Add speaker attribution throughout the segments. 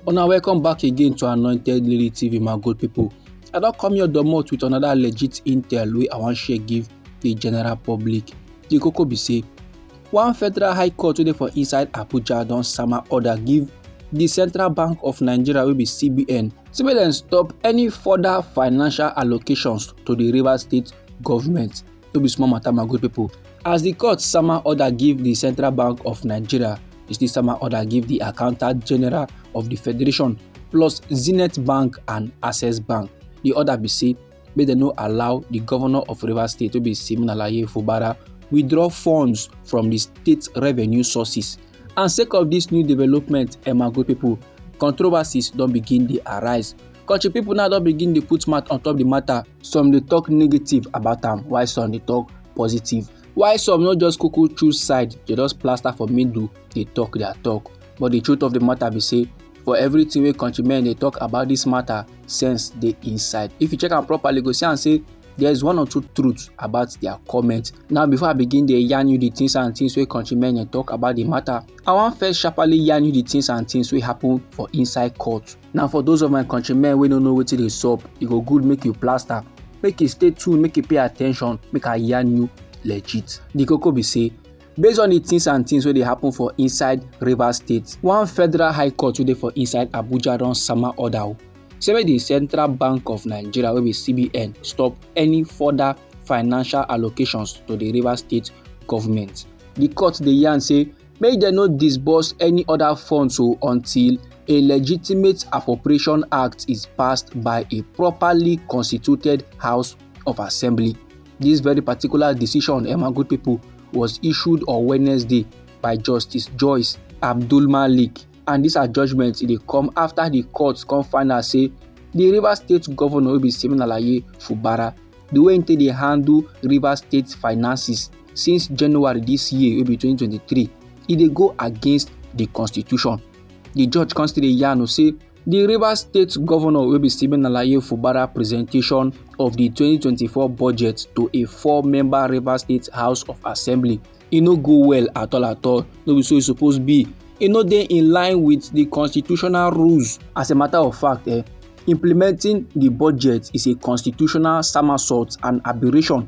Speaker 1: Una welcome back again to Anointed Lily TV, my good people. I don come your domot with another legit intel wey I wan share give the general public. The koko be say, one federal high court wey dey for inside Abuja don sama order give the Central Bank of Nigeria wey be CBN say make dem stop any further financial allocations to the Rivers State government. no be small matter my good people as the court sama order give the central bank of nigeria e still sama order give the accountant general of the federation plus zenith bank and access bank the order be say make dem no allow the governor of rivers state wey be siminalayi fubara withdraw funds from the state revenue sources and sake of this new development emma good people controversies don begin dey arise country people now don begin dey put mouth on top the matter some dey talk negative about am while some dey talk positive while some no just kuku choose side dey just plaster for middle dey talk their talk but the truth of the matter be say for everything wey countrymen dey talk about this matter sense dey inside if you check am properly you go see am say there is one or two truths about their comment now before i begin dey yarn you the things and things wey countrymen dey talk about the matter i wan first sharply yarn you the things and things wey happen for inside court Now for those of my countrymen wey no know wetin dey sup, e go good make you plaster, make you stay tuned, make you pay attention, make I yarn you legit. The koko be say based on the things and things wey dey happen for inside Rivers State, one federal high court wey dey for inside Abuja don sama order o say make the Central Bank of Nigeria wey be CBN stop any further financial allocations to the Rivers State government. The court dey yarn say make dem no disburse any oda funds o until a legitimate appropriation act is passed by a properly constituted house of assembly this very particular decision eh, my good people was issued on wednesday by justice joyce abdul malik and dis her judgement dey come after the court come find out say the rivers state governor wey be siminalayi fubara the way im take dey handle rivers state finances since january dis year wey be 2023 e dey go against di constitution di judge come still dey yarn o say di rivers state governor wey be stephen alaye fubara presentation of di 2024 budget to a four-member rivers state house of assembly e no go well at all at all no be so e suppose be e no dey in line wit di constitutional rules as a matter of fact eh implementing di budget is a constitutional somersault and aberration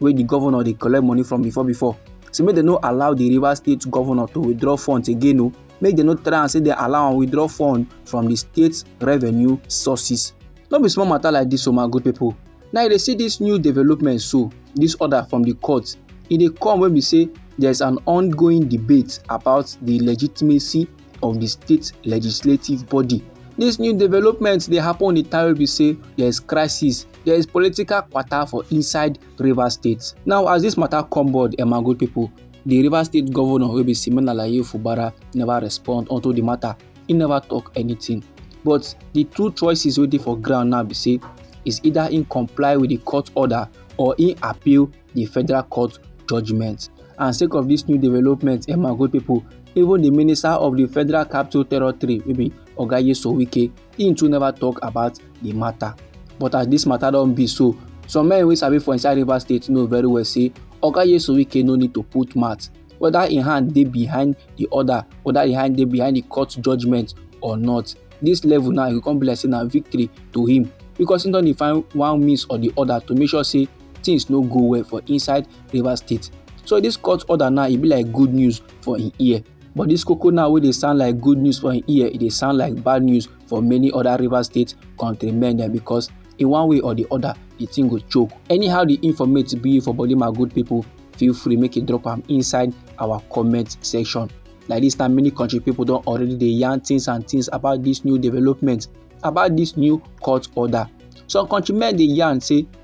Speaker 1: wey di governor dey collect money from before before say make dem no allow di rivers state governor to withdraw funds again o make dem no try am say dem allow am withdraw funds from di state revenue sources no be small matter like dis o my good people. now you dey see dis new development so dis order from di court e dey come wey be say there's an ongoing debate about di legitimacy of the state legislative body. This new development dey happen on the time wey be say there is crisis, there is political kwata for inside Rivers State. Now as this matter come board, Emma good people, the Rivers State governor wey be Simon Alaye Fubara never respond unto the matter. He never talk anything. But the two choices wey dey for ground now be say is either he comply with the court order or he appeal di federal court judgement and sake of dis new development eh my good pipo even di minister of di federal capital territory wey be oga nyesom wike im too neva tok about di mata but as dis mata don be so some men wey sabi for inside rivers state know very well say oga nyesom wike no need to put mouth whether im hand dey behind di order whether im hand dey behind di court judgement or not dis level now e go come be like say na victory to him because he don dey find one means or the other to make sure say things no go well for inside rivers state so this court order now e be like good news for im ear but this koko now wey dey sound like good news for im ear e dey sound like bad news for many other rivers state countrymen dem because in one way or the other the thing go choke anyhow the informate be for body my good people feel free make you drop am inside our comment section like this time many country people don already dey yarn things and things about this new development about this new court order some countrymen dey yarn say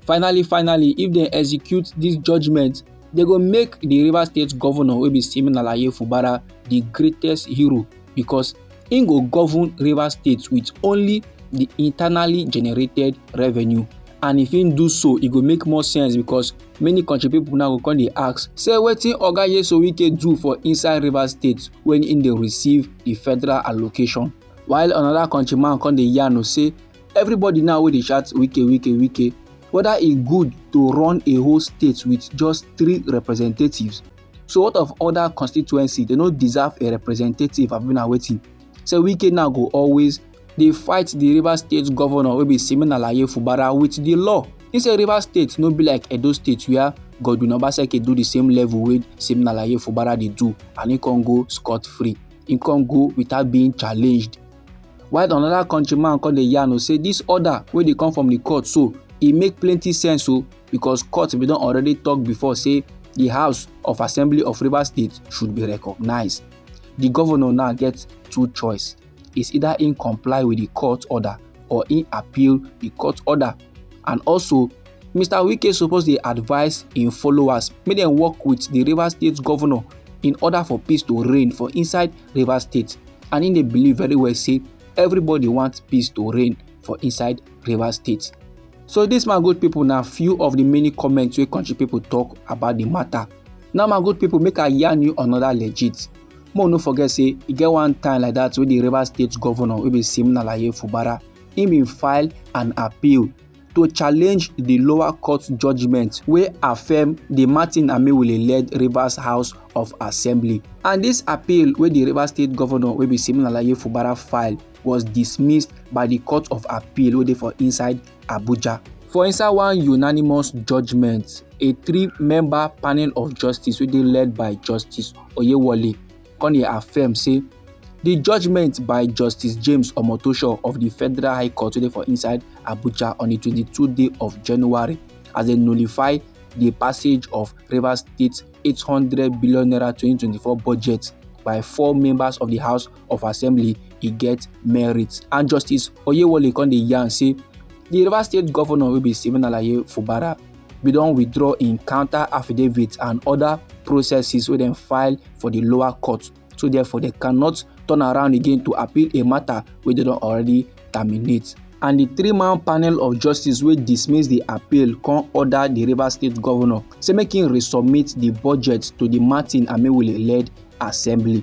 Speaker 1: finally finally if dem execute dis judgement dem go make di rivers state governor wey be simeon alaye fubara di greatest hero because im go govern rivers state wit only di internally generated revenue and if im do so e go make more sense because many country pipo now go come dey ask say wetin oga yeso wike do for inside rivers state wen im dey receive di federal allocation while anoda countryman come dey yarn say everybody now wey dey shout wike wike wike whether e good to run a whole state with just three representatives so what of other constituency they no deserve a representative abi na wetin so wike now go always dey fight the rivers state governor wey be simeon alaye fubara with the law he say rivers state no be like edo state where godwin obaseki do the same level wey simeon alaye fubara dey do and he con go scot free he con go without being challenged while another country man come dey yarn o say this order wey dey come from the court so e make plenty sense o because court bin don already talk before say the house of assembly of rivers state should be recognized the governor now get two choice is either im comply with the court order or im appeal the court order and also mr wike suppose dey advise im followers make dem work with di rivers state governor in order for peace to reign for inside rivers state and im dey believe very well say everybody want peace to reign for inside rivers state so dis my good pipo na few of di many comments wey country pipo tok about di matter now my good pipo make i yarn you another legit make we no forget say e get one time like that wey di rivers state governor wey be simon alaye fubara im bin file an appeal to challenge di lower court judgement wey affirm di martin amaewhule-led rivers house of assembly and dis appeal wey di rivers state govnor wey be siminalayi fubara file was dismissed by di court of appeal wey dey for inside abuja. for inside one unanimous judgement a three-member panel of justice wey dey led by justice oyewole come dey affirm say di judgement by justice james omotosho of di federal high court wey dey for inside abuja on di 22 day of january as dem nullify di passage of rivers state 800 billion naira 2024 budget by four members of di house of assembly e get merit and justice oyewole come dey yarn say di rivers state governor wey be stephen alaye fubara bin don withdraw im counter affidavit and oda processes wey dem file for di lower court so therefore dem cannot turn around again to appeal a matter wey dem don already terminate and di three-man panel of justice wey dismiss di appeal come order di rivers state governor say make im resubmit di budget to di martin amaewhule-led assembly.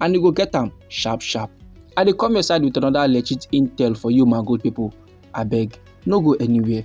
Speaker 1: and you go get am sharp sharp. I dey come your side with another legit intel for you my good people. Abeg, no go anywhere.